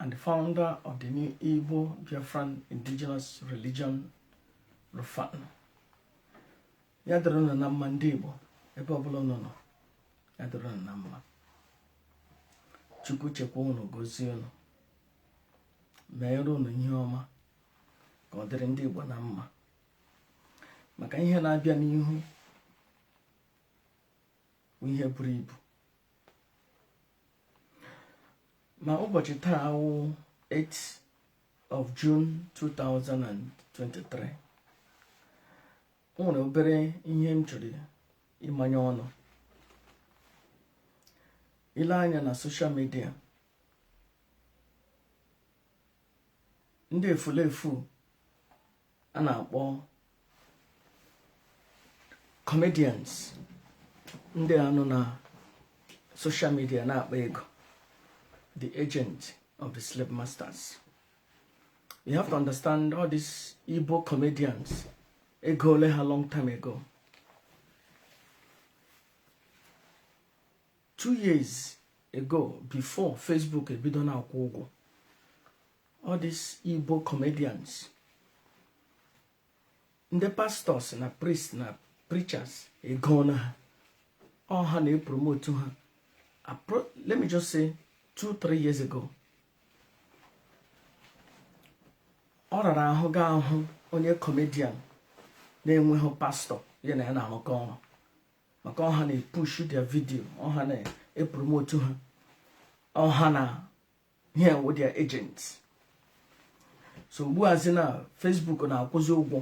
and the founder of the new Igbo Biafran indigenous religion Rufan ya dịrị unu na mma ndị Igbo ebe ọbụla unu nọ ya dịrị unu na mma Chukwu chekwaa unu gozie unu meere unu ihe ọma ka ọ dịrị ndị Igbo na mma maka ihe na-abịa n'ihu ihe buru ibu na ụbọchị taa a wụ 8 of June 2023 o nwere obere ihe m chọrọ ịmanye ọnụ ile anya na social media ndị efulefu a na-akpọ comedians ndị a nọ na social media na-akpa ego the agent of the slave masters you have to understand all these Igbo comedians egoole ha long time ago two years ago before Facebook ebido na-akwụ ụgwọ all these Igbo comedians ndị pastors na priests na preachers egoona ha ọ ha na-epromotu ha let me just say two three years ago ọ rara ahụ ga-ahụ onye comedian na-enweghị pastor ya na ya na-arụkọ ọrụ maka ọ ha na-epushu their video ọ ha na-epromotu ha ọ ha na ha wụ their agents so ugbu azi na Facebook na-akwụzi ụgwọ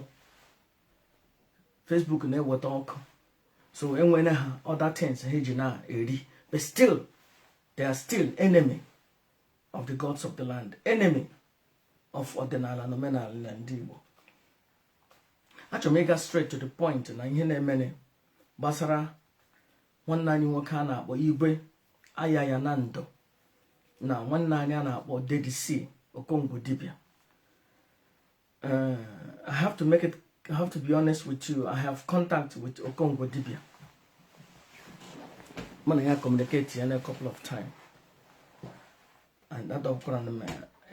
Facebook na-eweta ọkụ so enwere ha other things ha ji na-eri but still they are still enemy of the gods of the land enemy of ọdịnala na omenala na ndị Igbo achọrọ m ịga straight to the point na ihe na-emene gbasara nwanne anyị nwoke a na-akpọ Igwe Ayaya na ndụ na nwanne anyị a na-akpọ Dedisi Okongwu Dibia eh, I have to make it I have to be honest with you I have contact with Okongwu Dibia mụ na ya ecommunicatiana a couple of times and edropuru m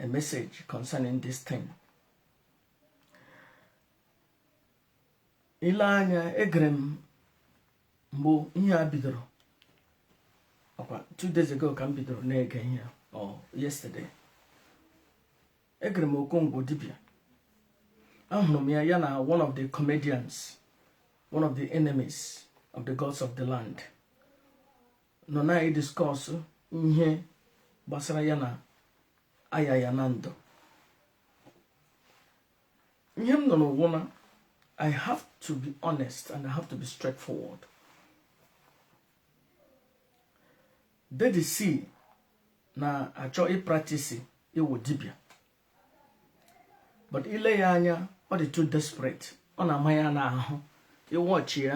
a message concerning this thing ile anya egere m mgbe ihe a bidoro ọkwa two days ago ka m bidoro na-ege ihe or yesterday egere m Okongwu dibịa ahụrụ m ya ya na one of the comedians one of the enemies of the gods of the land nọ na-ediscuss ihe gbasara ya na aya ya na ndụ ihe m nụrụ wụ na I have to be honest and I have to be straightforward. Daddy C na-achọ ịpractise ịwụ dibịa but ile ya anya ọ dị too desperate ọ na-ama ya n'ahụ ị watch ya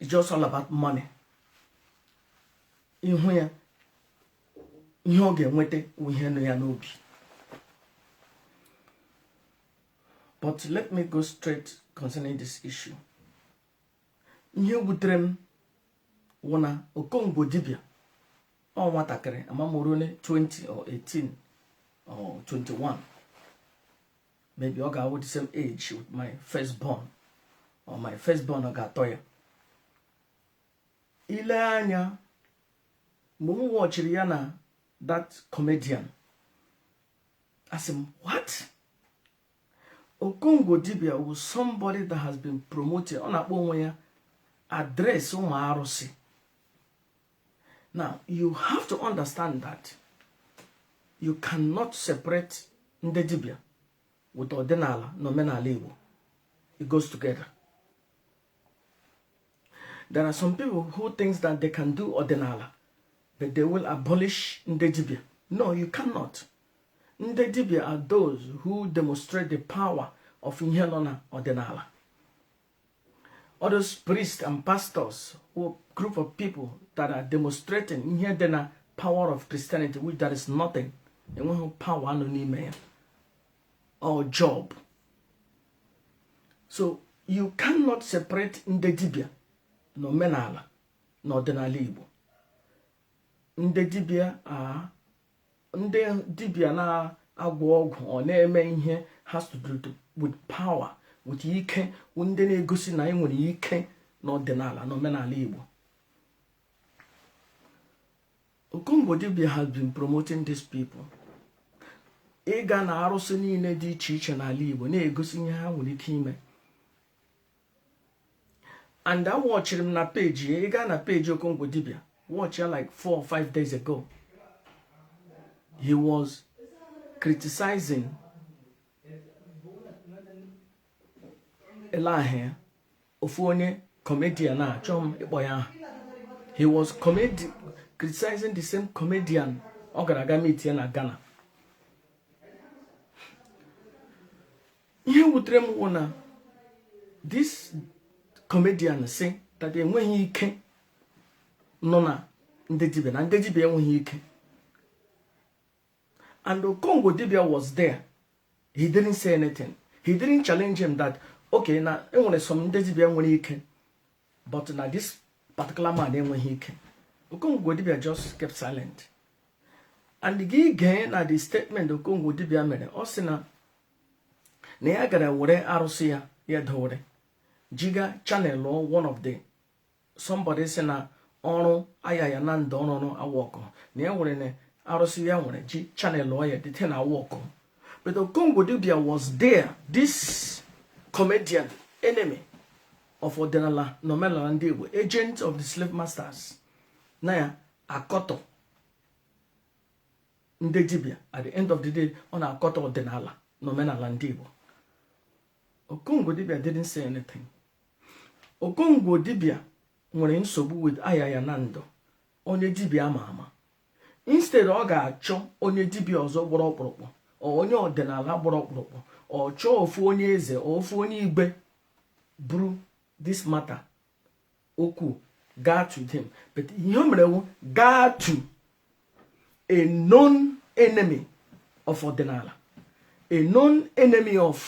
it's just all about money ihu ya ihe ọ ga-enweta ihe nọ ya n'obi but let me go straight concerning this issue ihe wutere m wụ na Okongwu dibịa ọ nwatakịrị ama m o rune 20 or 18 or 21 maybe ọ ga-awụ the same age with my first born or my first born ọ ga-atọ ya ile anya mgbe m watchiri ya na that comedian asị m what Okongo dibịa wụ somebody that has been promoted ọ na-akpọ onwe ya address ụmụ arụsị now you have to understand that you cannot separate ndị dibịa with ọdịnala na omenala Igbo it goes together there are some people who thinks that they can do ọdịnala but they will abolish ndị dibịa no you cannot ndị dibịa are those who demonstrate the power of ihe nọ na ọdịnala all those priests and pastors wụ group of people that are demonstrating ihe dị na power of Christianity which there is nothing enweghị power a nọ n'ime ya ọ job so you cannot separate ndị dibịa na omenala na ọdịnala Igbo ndị dibịa are ndị dibịa na-agwọ ọgwụ ọ na-eme ihe has to do with power with ike ndị na-egosi na anyị nwere ike n'ọdịnala na omenala Igbo Okongo dibịa has been promoting these people ịga na arụsị niile dị iche iche n'ala Igbo na-egosi ihe ha nwere ike ime and a wọchiri m na peji ị gaa na peji Okongwu dibia watch ya like four or five days ago he was criticizing ele ahụ ya ofu onye comedian achọọ m ịkpọ ya aha he was comedi criticizing the same comedian ọ gara aga meet ya na Ghana ihe wutere m wụ na this comedian sị that enweghị ike nọ na ndị dibịa na ndị dibịa enweghị ike and Okongwu dibịa was there he didn't say anything he didn't challenge him that okay na enwere some ndị dibịa nwere ike but na this particular man enweghị ike Okongwu dibịa just kept silent and gị gee na the statement Okongwu dibịa mere ọ sị na na ya gara were arụsị ya ya dowere jiga channel one of the somebody sị na ọrụ Ayaya Nando ọrụ ọrụ awọkụ na ya nwere na arụsị ya nwere ji channel ya dịte na awọkụ but Okongwu dibia was there this comedian enemy of ọdịnala na omenala ndị igbo agent of the slave masters na ya akọtọ ndị dibịa at the end of the day ọ na-akọtọ ọdịnala na omenala ndị Igbo Okongwu dibịa didn't say anything Okongwu dibịa nwere nsogbu with Ayaya Nando onye dibịa ama ama instead ọ ga-achọ onye dibịa ọzọ gbọrọ ọkpụrụkpụ or onye ọdịnala gbọrọ ọkpụrụkpụ or chọọ ofu onye eze or ofu onye igwe buru this matter okwu gaa to them but ihe o mere wụ gaa to a known enemy of ọdịnala a known enemy of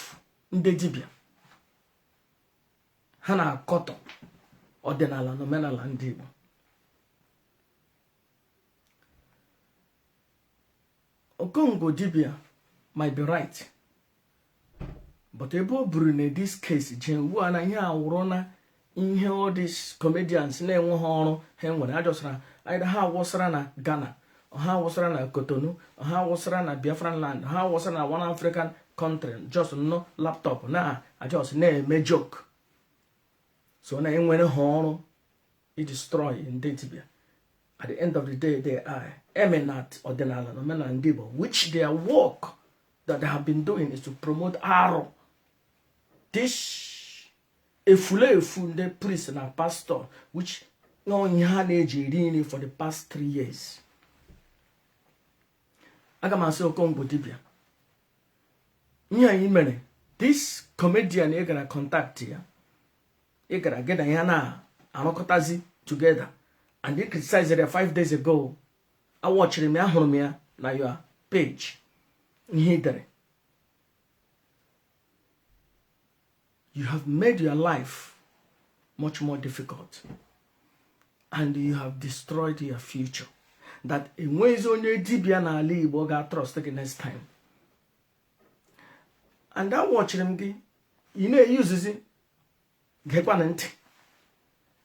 ndị dibịa ha na-akọtọ ọdịnala na omenala ndị Igbo Okongwu dibia might be right but ebe ọ bụrụ na this case ji ugbu a na ihe a wụrụ na ihe all these comedians na-enweghị ọrụ ha nwere ha just ha awụsara na Ghana ha awụsara na Cotonou ha awụsara na Biafran land ha awụsara na one African country just nọ laptop na just na-eme joke so na enwerọ ha ọrụ i destroy ndị dibịa at the end of the day they are enemy ọdịnala na omenala ndị Igbo which their work that they have been doing is to promote arụ this efulefu ndị priest na pastor which ọ ihe ha na-eji eri nri for the past three years aga m asị okongwu dibia ihe i mere this comedian ị gara contact ya ị gara gị na ya na-arụkọtazi together and ị criticized ya five days ago awatchiri m ya hụrụ m ya na your page ihe ị dere you have made your life much more difficult and you have destroyed your future that enweghịzi onye dibịa n'ala Igbo ga-atrust gị next time and awatchiri m gị ị na-eusezi gekwana ntị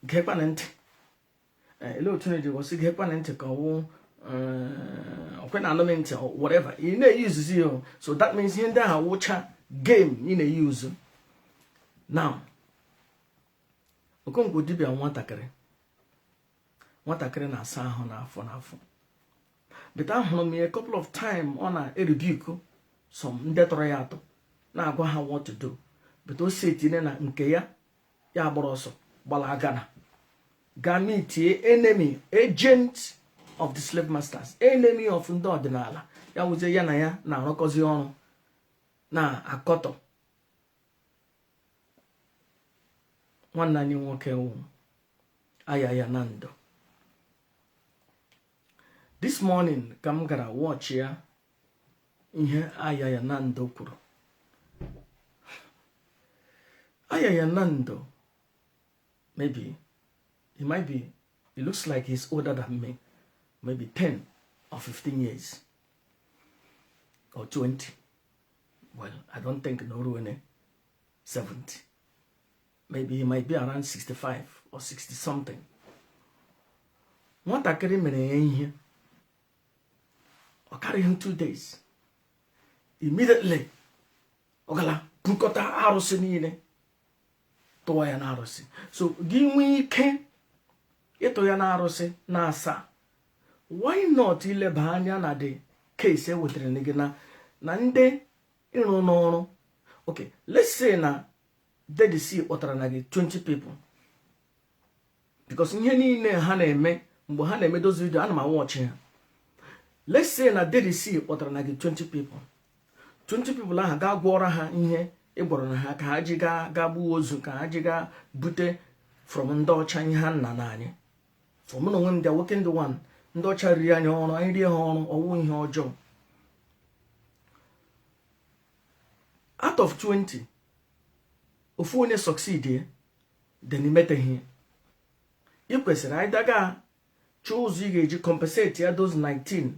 gekwana ntị eh, ele otu na-eji gosi gekwana ntị ka ọwụ eh, ọkwa ị na-anụ m ntị whatever ị na-eusezi ya so that means ihe ndị ahụ wụcha game ị na-euse now okongwu dibia nwatakịrị nwatakịrị na-asa ahụ n'afọ n'afọ but ahụrụ m ya couple of time ọ na-erebuke some ndị tọrọ ya atọ na-agwa ha what to do but o si etinye na nke ya ya gbara ọsọ gbalaga na gaa meetie enemy agent of the slave masters enemy of ndị ọdịnala ya wụzie ya na ya na-arụkọzi ọrụ na-akọtọ nwanne anyị nwoke wụ Ayaya na ndụ this morning ka m gara watch ya ihe Ayaya na ndụ kwuru Ayaya na ndụ maybe he might be he looks like he's older than me maybe 10 or 15 years or 20 well i don't think na o ruone 70 maybe he might be around 65 or 60 something nwatakịrị mere ya ihe ọ karịghị two days immediately ọ gara bukọta arụsị niile tụọ ya n'arụsị so gị nwee ike ịtụ ya n'arụsị na asaa why not i leba anya na the case e wetara gị na na ndị ịrụ n'ọrụ okay let's say na dedc kpọtara na gị 20 people because ihe niile ha na-eme mgbe ha na-eme those video a na m awatchi ha let's say na Daddy C kpọtara na gị 20 people 20 people ahụ gaa gwọọrọ ha ihe ị gwọrọ na ha ka ha ji gaa gaa gbuo ozu ka ha ji gaa bute from ndị ọcha ihe ha nna nna anyị from na onwe m dị nwoke ndị one ndị ọcha riri anyị ọrụ anyị rie ha ọrụ ọ wụ ihe ọjọọ out of 20 ofu onye succeed then i metahie ị kwesịrị anyị daga chọọ ụzọ ị ga-eji compensate ya those 19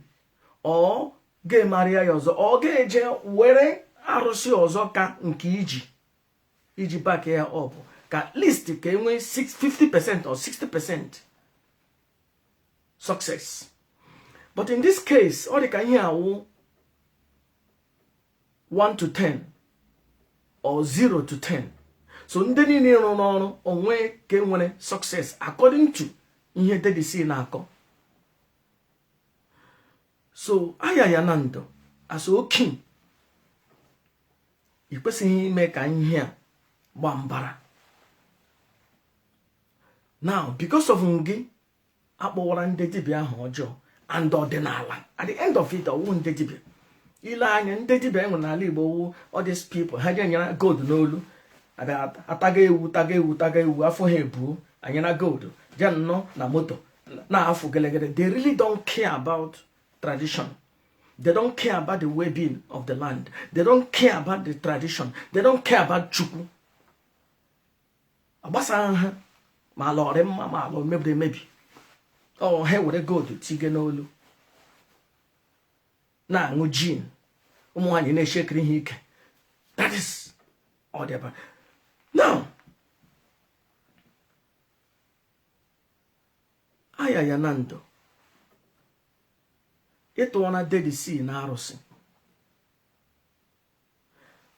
ọ ga-emarịa ya ọzọ ọ ga-eje were arụsị ọzọ ka nke iji iji back ya up ka at least ka e nwee 50 percent or 60 percent success but in this case ọ dị ka ihe a wụ 1 to 10 or 0 to 10 so ndị niile ị rụụrụ ọrụ o nwe nke nwere success according to ihe Daddy C na-akọ so Ayaya na ndụ asị okay ị kwesịghị ime ka ihe a gba mbara now because of gị a kpọwara ndị dibịa aha ọjọọ and ọdịnala at the end of it ọ wụ ndị dibịa i le anya ndị dibịa e nwe n'ala Igbo wụ all these people ha ga-anyara gold n'olu ataga ewu taga ewu taga ewu afọ ha ebuo anyara gold je nọọ na moto na-afụ gelegele they really don't care about tradition They don't care about the well-being of the land. They don't care about the tradition. They don't care about Chukwu. ọ gbasaghị ha ma ala ọ rị mma ma ala o mebiri emebi ọ ha were gold tige n'olu na-aṅụ gin ụmụ nwaanyị na-eshekiri ha ike that is ọ dị ebe now Ayaya na ndụ ị tụwara Daddy C n'arụsị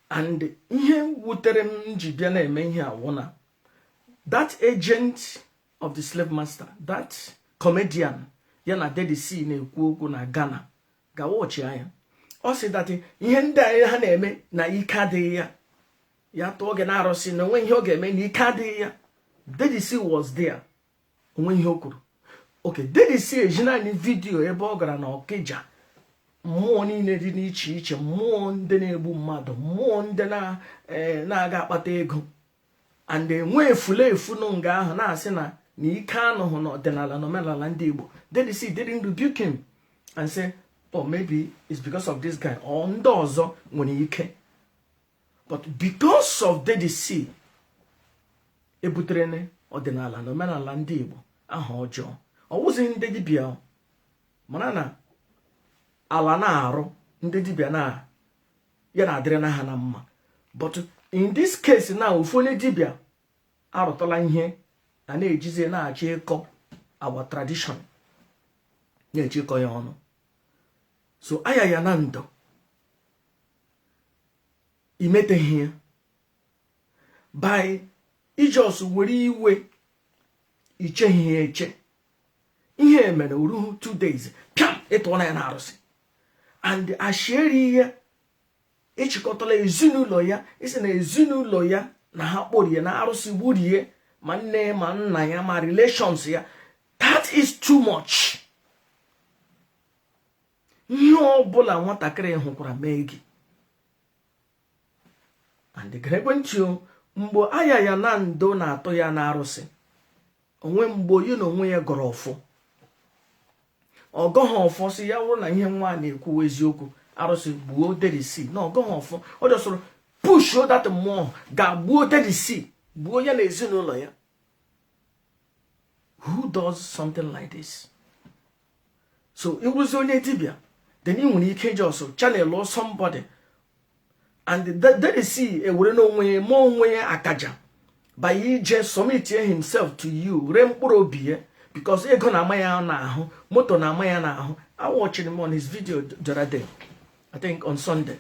and ihe wutere m ji bịa na-eme ihe a wụ na that agent of the slave master that comedian ya na Daddy C na-ekwu okwu na Ghana gawa ọchị anya ọ sị that ihe ndị anyị ha na-eme na ike adịghị ya ya tụọ gị n'arụsị na o nwe ihe ọ ga-eme na ike adịghị ya Daddy C was there o nwe ihe o kwuru okay Daddy C ezina anyị vidiyo ebe ọ gara na Ọkịja mmụọ niile dị n'iche iche mmụọ ndị na-egbu mmadụ mmụọ ndị eh, na-aga akpata ego and e nwee efulefu nọ nga ahụ na-asị na na ike anọhụ na ọdịnala na omenala ndị Igbo Daddy C didn't rebuke him and say oh maybe it's because of this guy or ndị ọzọ nwere ike but because of Daddy C ebutere ọdịnala na omenala ndị Igbo aha ọjọọ ọ wụzi ndị dibịa mara na ala na-arụ ndị dibịa na ya na-adịrị na ha na mma but in this case na ofu onye dibịa arụtala ihe a na-ejizi na-achọ ịkọ our tradition na-eji ịkọ ya ọnụ so Ayaya na ndụ i meteghị ya by i just were iwe i cheghị ya eche ihe mere o ruhu two days pịam ị tụọla ya na arụsị and a shịrị ya ị chịkọtala ezinụlọ ya ị sị na ezinụlọ ya na ha kporie na arụsị gburie ya ma nne ma nna ya ma relations ya that is too much ihe ọbụla nwatakịrị ahụ kwuru mee gị and gerekwe ntị mgbe Ayaya na ndụ na-atụ ya na arụsị o nwe mgbe ya na onwe ya gọrọ ọfọ ọ gọghị ọfọ sị ya wụrụ na ihe nwa a na-ekwu wụ eziokwu arụsị gbuo Daddy C na ọ gọghị ọfọ ọ jọsọrọ push that mmụọ gaa gbuo Daddy C gbuo ya na ezinụlọ ya who does something like this so ị wụzi onye dibịa then ị nwere ike iji ọsọ channel somebody and Daddy C ewere onwe ya ma onwe ya akaja by ije submit himself to you ree mkpụrụ obi ya because ego na-ama ya n'ahụ moto na-ama ya n'ahụ a watchịrị m one his video the other day I think on Sunday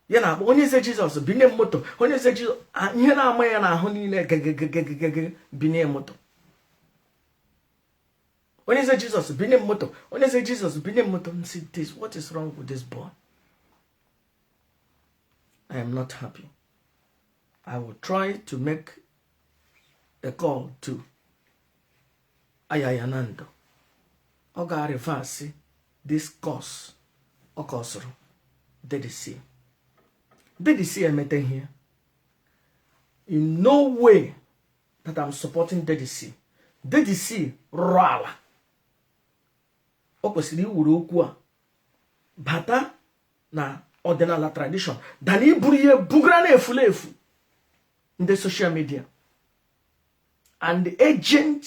ya na-akpọ Onye Eze Jesus binye m moto Onye Eze Jesus ihe na-ama ya n'ahụ niile gegegegegege binye moto onye eze Jesus binye m moto onye eze Jesus binye m moto m sị this what is wrong with this boy i am not happy i will try to make a call to Ayaya na ndụ ọ ga-reverse this curse ọ kọsụrụ Daddy C Daddy C emeta ihe in no way that I'm supporting Daddy C Daddy C rụrụ ala o kwesịrị iweru okwu a bata na ọdịnala tradition than iburu ihe bugara na efulefu ndị social media and agent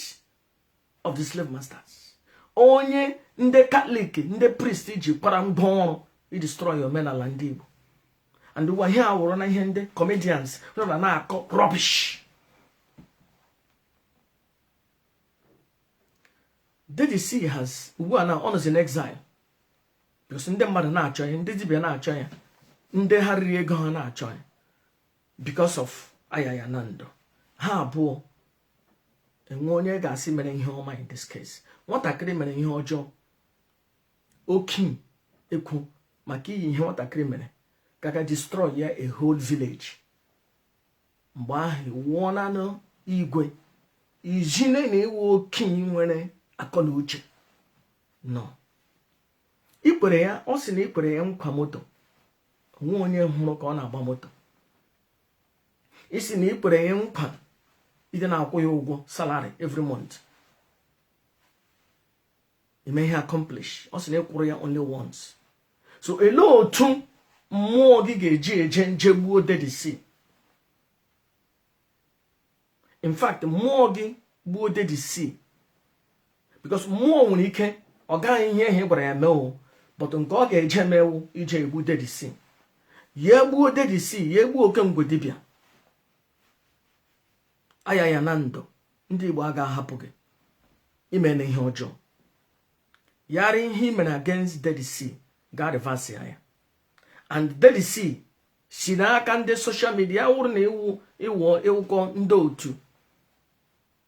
of the slave masters onye ndị katọlik ndị prist jikwara ngwa ọrụ idestroy omenala ndị igbo and ụwa ihe a wụrụ na ihe ndị comedians nọ na na-akọ rubbish Daddy C has ugbu a na ọ nọzi n'exile because ndị mmadụ na-achọ ya ndị dibia na-achọ ya ndị ha riri ego ha na-achọ ya because of Ayaya Nando ha abụọ o nwe onye ga-asị mere ihe ọma in this case nwatakịrị mere ihe ọjọọ okenye ekwu maka ihi ihe nwatakịrị mere ka ga destroy ya a whole village mgbe ahụ wụọ nanụ igwe ijine na ị wụ okenye nwere akọ na uche na i kwere ya ọ sị na i kwere ya nkwa moto o nwe onye hụrụ ka ọ na-agba moto ị sị na ị kwere ya nkwa ịdị na-akwụ ya ụgwọ salary every month i mehị accomplish ọ sị na ị kwụrụ ya only once so elee otu mmụọ gị ga-eji eje nje gbuo Daddy C in fact mmụọ gị gbuo Daddy C because mmụọ nwere ike ọ gaghị ihe ị gwara ya mee o but nke ọ ga-eje mee wụ ije egbu Daddy C ya egbuo Daddy C ya egbuo oke ngwu dibịa Ayaya Nando ndị Igbo a ga-ahapụ gị i meena ihe ọjọọ yara ihe ị mere against Daddy C ga reverse ya and Daddy C si n'aka ndị social media ya wụrụ na ị wụ ị wụkọ ndị otu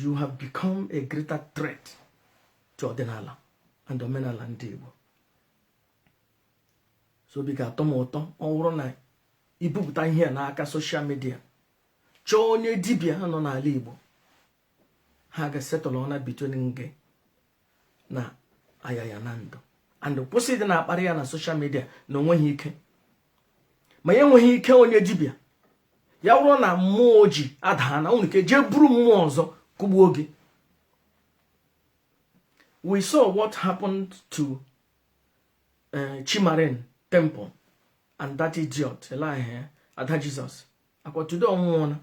you have become a greater threat to ọdịnala and omenala ndị Igbo so obi ga-atọ m ụtọ ọ bụrụ na i bupụta ihe a n'aka social media chọọ onye dibia ha nọ n'ala Igbo ha ga-esettle ụnụ between gị na Ayaya Nando and kwụsị ịdị na-akparị ya na social media na o nweghị ike ma ya enweghị ike onye dibịa ya wụrụ na mmụọ o ji adaa na o nwere ike jee buru mmụọ ọzọ kụgbuo gị we saw what happened to eh, Chi Marine Temple and that idiot lady Ada Jesus akwa today ọ nwụọla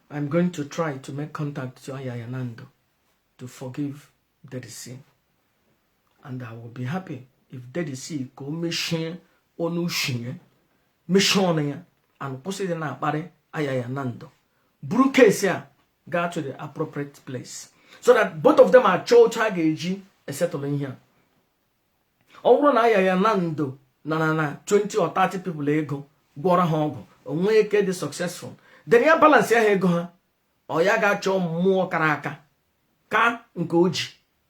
I'm going to try to make contact to Ayaya Nando to forgive Daddy C. And I will be happy if Daddy C ga-emechi ọnụ sị ya mechie ọnụ ya and kwụsị ịdị na-akparị Ayaya Nando. Buru case ya gaa to the appropriate place so that both of them achọọ otu a ga-eji esettle ihe a. ọ bụrụ na ayaya na ndo na na na 20 or 30 people ego gwọrọ ha ọgwụ o nwee ike dị successful then ya balance ya ha ego ha ọ ya ga-achọ mmụọ kara aka ka nke o ji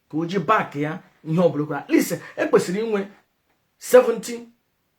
ka o ji back ya ihe ọ bụla o kwuru at least e kwesịrị inwe 70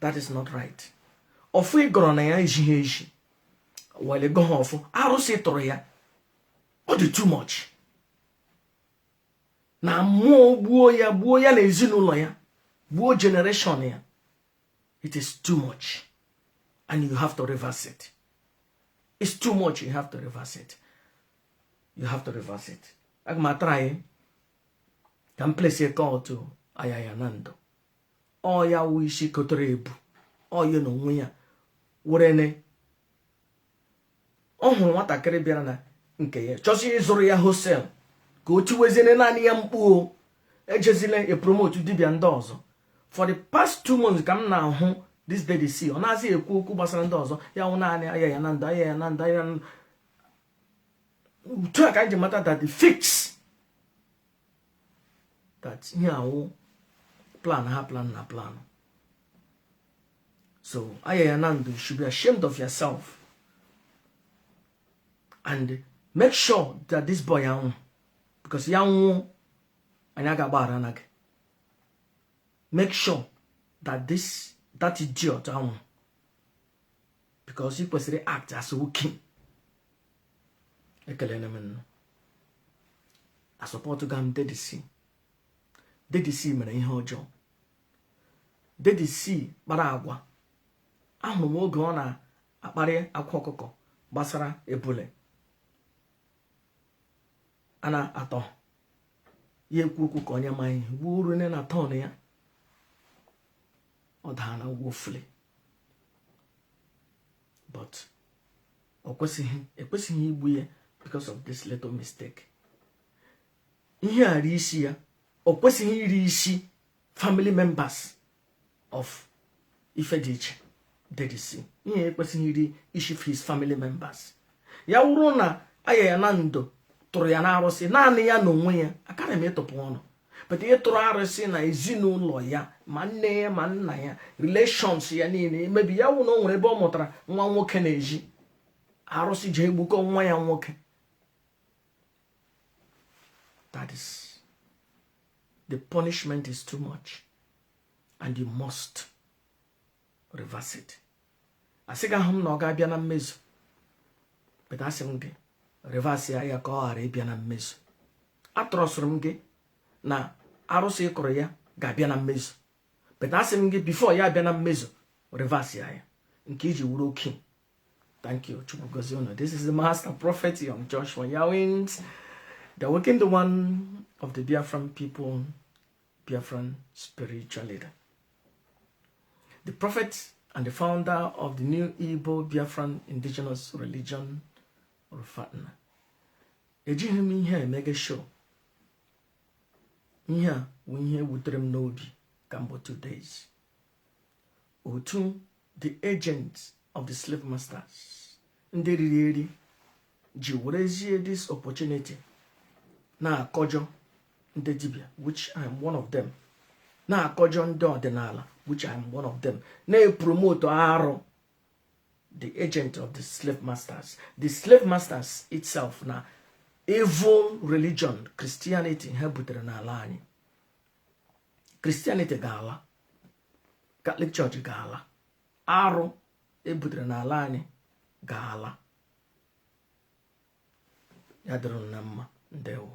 that is not right ọfọ ị gọrọ na ya ezighị ezi were gọ ha ọfọ arụsị ị tụrụ ya ọ dị too much na mmụọ gbuo ya gbuo ya na ezinụlọ ya gbuo generation ya it is too much and you have to reverse it it's too much you have to reverse it you have to reverse it aga m a-try ka m placie call to ayaya na ndụ ọ ya wụ isi kotere ebu ọ ya na onwe ya werene ọ hụrụ nwatakịrị bịara na nke ya chọsi ịzụrụ ya wholesale ka o tiweziene naanị ya mkpu ejezila e-promote dibia ndị ọzọ for the past two months ka m na-ahụ this dedisi ọ nazị ekwu okwu gbasara ndị ọzọ ya wụ naanị ayaya na ndụ ayaya na ndụ ayaya na ndụ otu a ka anyị ji mata that the fix that ihe a wụ plan ha plan na plan so ayaya na ndụ you should be ashamed of yourself and make sure that this boy anwụ because ya nwụọ anyị aga agbaghara na gị make sure that this that idiot anwụ because ị kwesịrị act as a king ekelere m nnụ asupportghị m dedisi dedisi mere ihe ọjọọ dedisi kpara agwa ahụrụ m oge ọ na-akparị akwa ọkụkọ gbasara ebule a na-atọ ya ekwu okwu ka onye amaghị ihe gbuo uru nne na tọn ya ọ daa na woefully but ọ kwesịghị e kwesịghị igbu ya because of this little mistake ihe a iri isi ya ọ kwesịghị iri isi family members of ife dị iche dedisi ihe ekwesịghị iri isi his family members ya wụrụ na ayaya na ndo tụrụ ya n'arụsị naanị ya na onwe ya akarị m ịtụpụ ọnụ but ị tụrụ arụsị na ezinụlọ ya ma nne ya ma nna ya relations ya niile maybe ya wụ na o nwere ebe ọ mụtara nwa nwoke n'ezi arụsị je egbukọ nwa ya nwoke that is the punishment is too much and you must reverse it asị gị ahụ m na ọ ga-abịa na mmezu but asị m gị reverse ya ya ka ọ ghara ịbịa na mmezu atụrọsịrị m gị na arụsị ịkụrụ ya ga-abịa na mmezu but asị m gị before ya abịa na mmezu reverse ya ya nke i ji wụrụ oke thank you chukwu gozie unu this is the master prophet young joshua yawins the waking the one of the biafran people biafran spiritual leader the prophet and the founder of the new Igbo Biafran indigenous religion Rufatna ejighị m ihe emege show ihe a bụ ihe wutere m n'obi kamgbe two days otu the agents of the slave masters ndị riri eri ji werezie this opportunity na-akọjọ ndị dibia which I am one of them na-akọjọ ndị ọdịnala which I am one of them na-epromote arụ the agent of the slave masters the slave masters itself na evil religion Christianity ha butere n'ala anyị Christianity ga-ala Catholic church ga-ala arụ e butere n'ala anyị ga-ala ya dịrị na mma ndewo